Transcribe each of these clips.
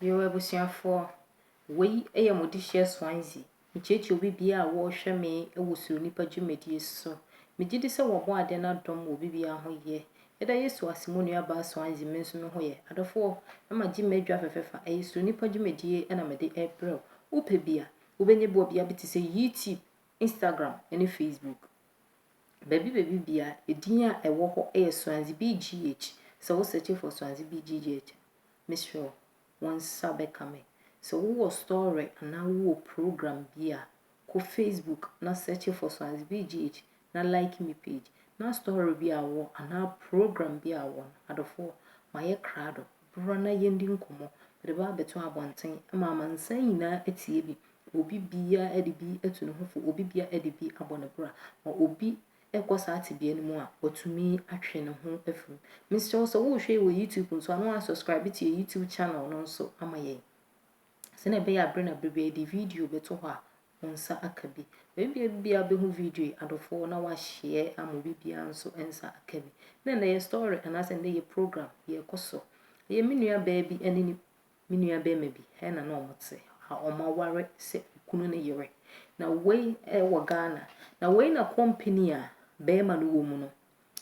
Yoo abusuafoɔ, wei yɛ mo dehyeɛ Swansea. Mekyerɛkyerɛ obi biara a wɔrehwɛ me wɔ Suro Nnipa dwumadie so. Megye di sɛ wɔabɔ adeɛ no adom wɔ obi biara ho yɛ. Yɛda Yesu ase mo nua baa Swansea me nso me ho yɛ. Adɔfoɔ, ma gye m'adwa fɛfɛfa, ɛyɛ Suro Nnipa dwumadie na mede rebrɛ wo. Wopɛ bi a, wobɛnya bi wɔ bea bi te sɛ YouTube, Instagram ne Facebook. Baabi baabi biara, edin a ɛwɔ hɔ yɛ Swansea BGH. Sɛ wo search for Swansea BGH a, mesrɛ wo, wo nsa bɛka me. Sɛ wowɔ story anaa wowɔ program bi a, kɔ Facebook na search for Swansea BGH na like me page na story bi a wowɔ anaa program bi a wowɔ no, adɔfoɔ, mayɛ krado, bra na yɛndi nkɔmmɔ. Mede ba abɛto abɔnten ma amansan nyinaa atie bi obi biara de bi atu ne ho fo, obi biara de bi abɔ ne bra, ma obi kɔ saa tebea no mu a, watumi atwe ne ho afi mu. Mesrɛ wo sɛ worehwɛ yi wɔ YouTube nso a, na woasubscribe to yɛn YouTube channel no nso ama yɛn. Sɛnea ɛbɛyɛ a bere na bere bi yɛde video bɛto hɔ a, wo nsa aka bi. Obi biara biara bɛhu video yi adɔfoɔ na wahyɛ ama obi biara nso nsa aka bi. Na ɛnna yɛ story anaasɛ ɛnna yɛ program yɛkɔ so. Ɛyɛ me nua baa bi ne ne Me nua barima bi na na ɔmo te a ɔmo aware sɛ okunu ne yere. Na wei ɛwɔ Ghana. Na wei na company a barima no wɔ mu no,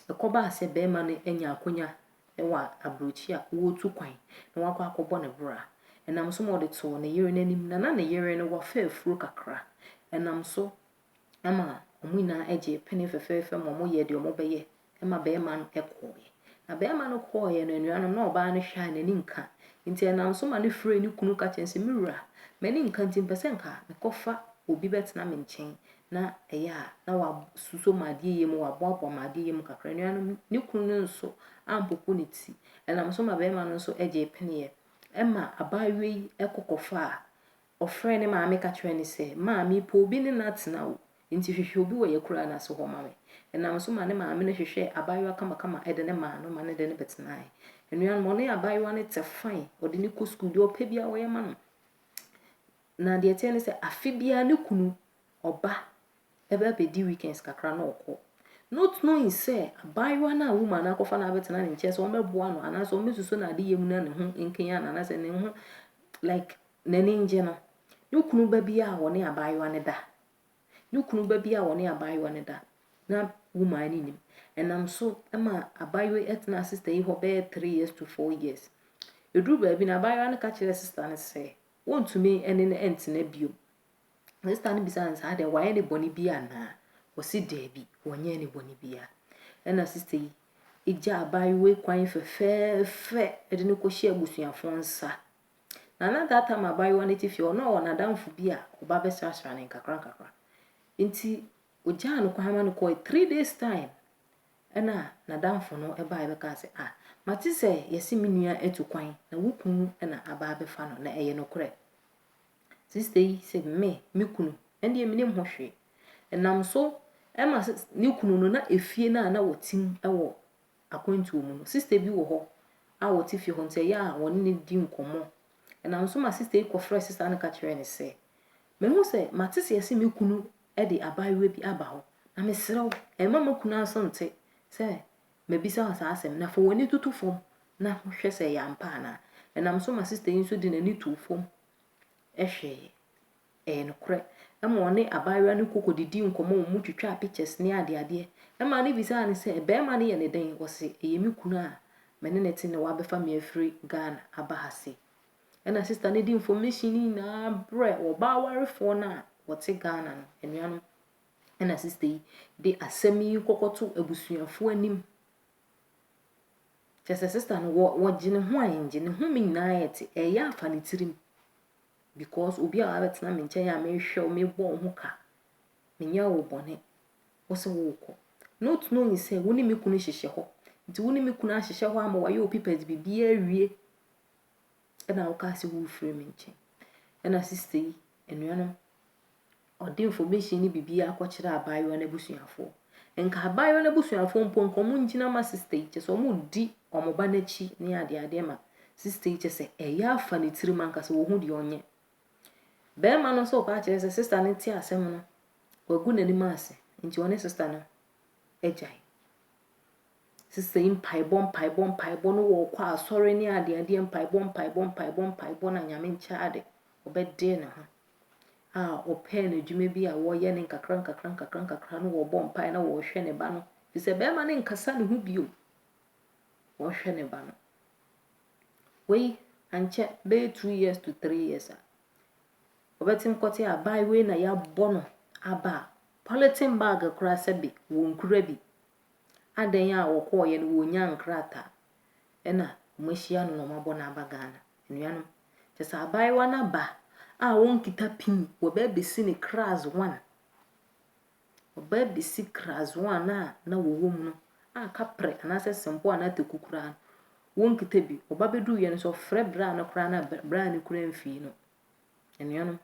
ɛkɔ baa sɛ barima no anya akonya ɛwɔ abrɔkyi a ɔɔtu kwan na wakɔ akɔ bɔ ne bra. Ɛnam so ma ɔde too ne yere n'anim na na ne yere no wafɛ afuro kakra. Ɛnam so Ɛma wɔn nyinaa gyee pene fɛfɛɛfɛ ma wɔyɛɛ deɛ wɔbɛyɛ ma barima no kɔeɛ. Na barima no kɔeɛ no, anuanom, na ɔbaa no hwɛ a n'ani nka. Nti ɛnam so ma no frɛɛ ne kunu ka kyerɛɛ no sɛ, Me wura, m'ani nka nti mepɛ sɛ nka mekɔfa obi bɛtena me nkyɛn na ɛyɛ a na wasuso m'adeɛ yɛ mu, waboaboa m'adeɛ yɛ mu kakra. Anuanom, ne kunu no nso ampopo ne ti. Ɛnam so ma barima no nso gyee peneɛ. Ɛma abaayewa yi kɔkɔfaa Ɔfrɛɛ ne maame ka kyerɛɛ no sɛ, Ma, merepɛ obi ne no atena o, enti hwehwɛ obi wɔ yɛn akuraa no ase hɔ ma me. Ɛnam so ma ne maame no hwehwɛɛ abaayewa kamakama de no maa no ma ne ne no bɛtenaeɛ. Anuanom, ɔne abaayewa no te fann, ɔde no kɔ sukuu, deɛ ɔpɛ biara ɔyɛ ma no. Na deɛ ɛteɛ ne sɛ, afe biara ne kunu ɔba ɛbɛ abɛdi weekends kakra na ɔkɔ. Not knowing sɛ abaayewa no a woman no akɔfa no abɛtena ne nkyɛn sɛ ɔmmɛboa no anaasɛ ɔmmɛsusu no adeyɛ mu na ne ho nkanyan no anaasɛ ne ho like N'ani ngye no. Ne kunu ba bi a ɔne abaayewa no da. Ne kunu ba bi a ɔne abaayewa no da. Na woman no nim. Ɛnam so ma abaayewa yi tena sista yi hɔ bɛyɛ three years to four years. Ɛduru baabi no, abaayewa no ka kyerɛ sista no sɛ wɔntumi ne no ntena bio. Sista no bisa no saa deɛ wayɛ ne bɔne bi anaa? Ɔsi daabi, wɔnyɛɛ ne bɔne biara. Ɛna sista yi gya abaayewa yi kwan fɛfɛɛfɛ de no kɔhyɛ abusuafoɔ nsa Na na that time abaayewa no te fie, ɔno na ɔwɔ n'adamfo bi a ɔba bɛsrasra no nkakrankakra. Nti ogyaa no kwan ma no kɔe. Three days time ɛna n'adamfo no bae bɛkaa sɛ, ah, mate sɛ yɛse me nua atu kwan na wo kunu na aba abɛfa no, na ɛyɛ nokorɛ? Sista yi sɛ, me, me kunu? Ɛndeɛ menim ho hwee. Ɛnam so ɛma ne kunu no na efie no a na wɔte mu wɔ akwantuo mu no, sista bi wɔ hɔ a ɔte fie hɔ nti ɛyɛ a wɔne no di nkɔmmɔ. Ɛnam so ma sista yi kɔfrɛɛ sista no ka kyerɛɛ no sɛ, Mahu sɛ mate seɛ sɛ me kunu de abaayewa bi aba hɔ, na mesrɛ wo, mma m'akunu aso nte sɛ mabisa wo saa asɛm, na fa w'ani toto fam na hwɛ sɛ ɛyɛ ampa anaa. Ɛnam so ma sista yi nso de n'ani too fam hwɛeɛ. Ɛyɛ nokorɛ. Ɛma ɔne abaayewa no koko didii nkɔmmɔ, wɔn twitwaa pictures ne adeadeɛ. Ɛmaa no bisaa no sɛ, Barima no yɛ no dɛn? Ɔse, Ɛyɛ me kunu a me ne no te na wabɛfa me afiri Ghana aba ha sei. Ɛna sister no de information no nyinaa brɛ ɔbaa warefoɔ no a wɔte Ghana no, anuanom. Ɛna sister yi de asɛm yi kɔkɔto abusuafoɔ anim. Kyɛ sɛ sister no wɔ wɔgye ne ho a ɛngye ne ho me nyinaa ɛte ɛyɛ afa ne tirim. because obi a wabɛtena me nkyɛn a mehwɛ wo, mebɔ wo ho ka, menyɛ wo bɔne, wo sɛ worekɔ. Not knowing sɛ wo ne me kunu hyehyɛ hɔ. Nti wo ne me kunu ahyehyɛ hɔ ama wayɛ wo papers biribiara awie ɛna wokaa sɛ worefiri me nkyɛn. Ɛna sista yi, anuanom, Ɔde information no bibiaa kɔkyerɛ abaayewa no abusuafoɔ. Nka abaayewa no abusuafoɔ mpo nka ɔmo ngyina ma sister yi kyɛsɛ ɔmo di ɔmo ba no akyi ne adeadeɛ ma sister yi kyɛsɛ ɛyɛ afa ne tirim ankasa ɔhu deɛ ɔnyɛ. Bɛɛma no nso ɔba akyerɛ sɛ sister no te asɛm no wagu n'anim ase nti ɔne sister no agyae. Sister yi mpaebɔ mpaebɔ mpaebɔ no wɔ ɔkɔ asɔre ne adeadeɛ mpaebɔ mpaebɔ mpaebɔ mpaebɔ na nyame nkyɛ ade ɔbɛdee ne ho a ɔpɛɛ no adwuma bi a wɔyɛ no nkakrankakrankakrankakra no wɔbɔ mpae na wɔhwɛ ne ba no fi sɛ bɛrima no nkasa ne ho bio wɔhwɛ ne ba no wei ankyɛ bɛyɛ two years to three years a ɔbɛte nkɔte a ban wei na yɛabɔ no aba a polythene bag koraa sɛ bi wɔnkura bi adɛn a wɔkɔɔyɛ no wɔnya nkrataa na wɔahyia no na wɔabɔ no aba Ghana. Anuanom, kyerɛ sɛ abaayewa no aba a ɔnkita pin, wɔba abɛsi no class one. Wɔba abɛsi class one a na wɔwɔ mu no a kaprɛ anaasɛ sempo a na ataku koraa no, wɔnkita bi. Ɔba bɛduru yɛ no sɛ ɔfrɛ bra no koraa na bra no kura mfii no. Anuanom,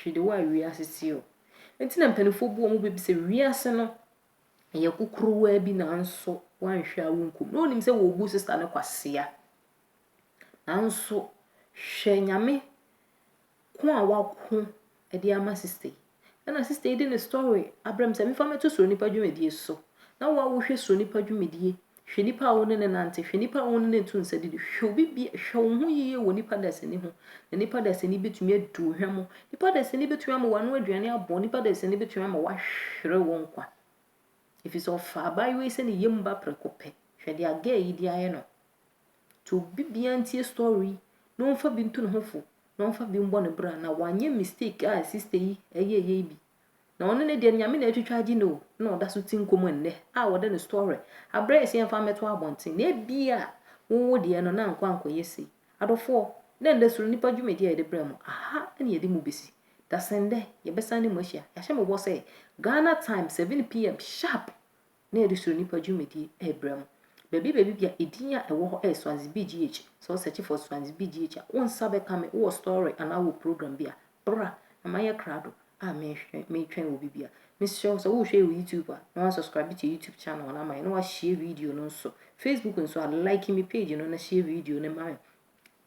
hwede wɔ a wiase si o. Nti na mpanimfoɔ bu wɔn bɛ bi sɛ wiase no Ɛyɛ kokorowaa bi nanso woanhwɛ a wonku no. Na onim sɛ wɔrebu sista no kwasea. Nanso hwɛ Nyame ko a wako de ama sista yi. Ɛna sista yi de ne story abrɛ me sɛ mefa mɛto Suro Nipa dwumadie so. Na wo a wohwɛ Suro Nipa dwumadie Hwɛ nipa a wo ne no nante, hwɛ nipa a wo ne no to nsa didi, hwɛ obi bi, hwɛ wo ho yiye wɔ nipa dasani ho, na nipa dasani betumi adi wo hwam, nipa dasani betumi ama w'ano aduane abɔ, nipa dasani betumi ama woahwere wo nkwa. Efisɛ ɔfa abaayewa yi sɛ ne yam ba prɛko pɛ. Hwɛ deɛ gɛɛ yi de ayɛ no. Nti obi biara ntie story yi na ɔmfa bi nto ne ho fo na ɔmfa bi mbɔ ne bra na wanyɛ mistake a sista yi ɛyɛɛyɛ yi bi. Na ɔno ne deɛ Nyame na atwitwa agye no o na ɔda so te nko mu nnɛ a wɔde no story abrɛ yɛ sɛ yɛmfa mmɛto abɔnten na ebia wo wo deɛ no na ankɔ ankɔyɛ sei. Adɔfoɔ, dɛ ndɛ Soro Nipa dwumadie a yɛde brɛ mo, aha na yɛde mo besi. Dasendɛ, yɛbɛsan ne mo ahyia. Yɛahyɛ mo bɔ sɛ Ghana time 7 PM sharp na yɛde suro nnipa dwumadie rebrɛ mo. Baabi baabi bia edin a ɛwɔ hɔ yɛ Swansea BGH, sɛ wo search for Swansea BGH a, wo nsa bɛka me, wowɔ story anaa wowɔ program bi a, bra na mayɛ krado a metwɛn wɔ bi bia. Mesrɛ wo sɛ wohwɛ yɛ wɔ YouTube a, na wansubscribe to yɛ YouTube channel no ama yɛ, na washare video no nso. Facebook nso a, like me page no na share video no ma me.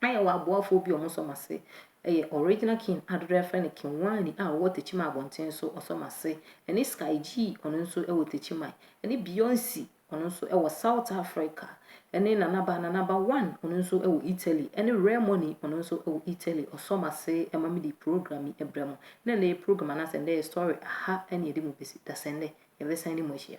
Na yɛwɔ aboafoɔ bi a wɔsɔ mo ase yɛ Original King a dodoɔ yɛfrɛ no King Wani a ɔwɔ Techiman abɔnten so ɔsɔ mo ase ɛne Sky G ɔno nso wɔ Techiman ɛne Beyonce ɔno nso wɔ South Africa ɛne Nanaba Nanaba One ɔno nso wɔ Italy ɛne Rare Money ɔno nso wɔ Italy ɔsɔ mo ase ma me de program yi brɛ mo na ɛnɛ yɛ program anaasɛ ɛnɛ yɛ story aha ɛne yɛde mo bɛsi dasɛ ɛnɛ yɛbɛsan ne mo ahyia.